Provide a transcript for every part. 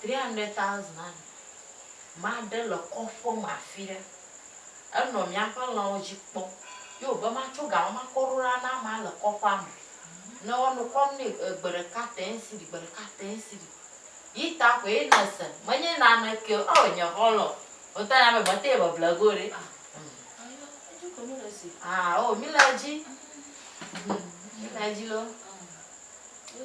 Three hundred thousand anɔ maɖe le kɔƒe me afi ɖe, enɔ míaƒe lãwo dzi kpɔ ye wòbe matso ga ma makɔ ɖo ɖa na amea le kɔƒea me. Ne woanɔ kɔm nɛ e, gbe ɖeka tẽ si ɖi, gbe ɖeka tẽ si ɖi. Yi ta koe ye nèse, menye naneke o. Oo, nye xɔlɔ̃, wotɔ nya be mete beble ge o ɖe. Ah, Ayo, edzi ko míle si. ah, oo, míle edzi. Mhm, Míle edzi loo. Yo,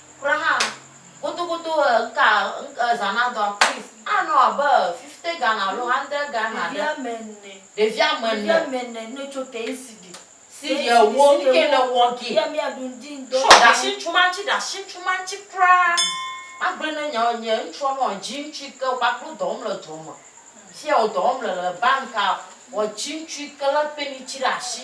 Kura hã gotogoto ŋka zã na dɔa please anɔ abe fifty Ghana alo hundred Ghana ɖe. Ɖevia me ne. Ɖevia me ne. Ɖevia me ne ne tso te ŋsi ɖi. Si ɖi ewo nu ke ne wɔ gi. Yɛ mia ɖu ŋdi ŋdɔ. Sɔ ɖa si ŋtsu ma ŋtsi ɖa si ŋtsu ma ŋtsi kura. Ma gblɔe ne nyɔ nye ŋtsua nɔ dzi ŋtsu yi ke kpakple wo dɔ wɔm le dɔ me. Fiya wo dɔ wɔm le le banka wɔ dzi ŋtsu yi ke le pɛni tsi ɖe asi.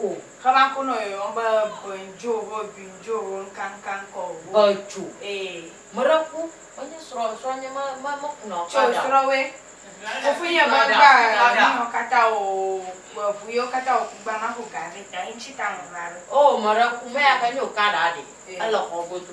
O. Xɔ ba ko nɔ yɔyɔm be bɔe ŋdjo ho dui ŋdjo ho ŋka ŋka ŋkɔ o ho. Ecoo. Ee. Meɖe ku menye srɔ srɔ nye me me me kuna o Tso srɔ we. Fofo nye va gba nuyɔ kata o we vu yɔ kata o ku gba ma xo ga ve ta ye ŋtsi ta me va ɖo. Oo meɖe ku meya ke nyo ka ɖa ɖe ele xɔ godo.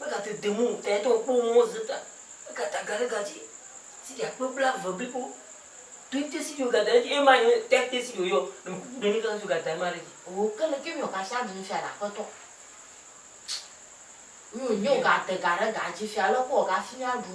Megate de mo ŋutɔe to kpɔ mɔ woze ta eka ta ga ɖe ga dzi sidi akpe blaeve blibo. Ɖo te sidi woga da edzi eye ma nye te te sidi woyɔ ne me kuku ɖe ne kaka si woga da ema ɖe edzi. O ke le ke mi ɔka sia mi nu fia na akpetɔ. Mi o nyo ga de ga ɖe ga dzi fia lɔ kpɔ ɔga fi mi aɖu.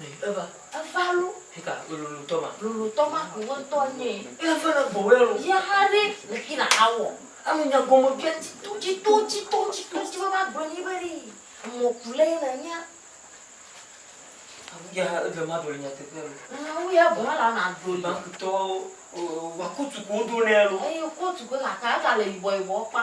Eva. Eva lo. Hika lolo tɔma. Lolo tɔma wòwe tɔ nye. Ela fana gbɔwɛ lo. Yɛ ha ɖe le ki na ha wɔ. Enu nya gɔme bia tito tito tito tito tito ma gblɔ nyi be ɖi emɔ ku lɛ na nya. Awu ya ha eve ma ɖo le nya teƒe lo. Awu ya bɔ la na ɖo le. Bank tɔ wa kutu ko do nɛ lo. Eye kutu ko na ta ta le yibɔ yibɔ kpa.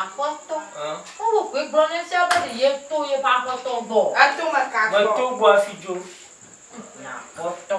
Aƒetɔ, Paulo koe gblɔ ne fia be ɖe yeto yeƒe aƒetɔ gbɔ o. Eto me ka gbɔ? Meto gbɔ hafi dzo. Aƒetɔ.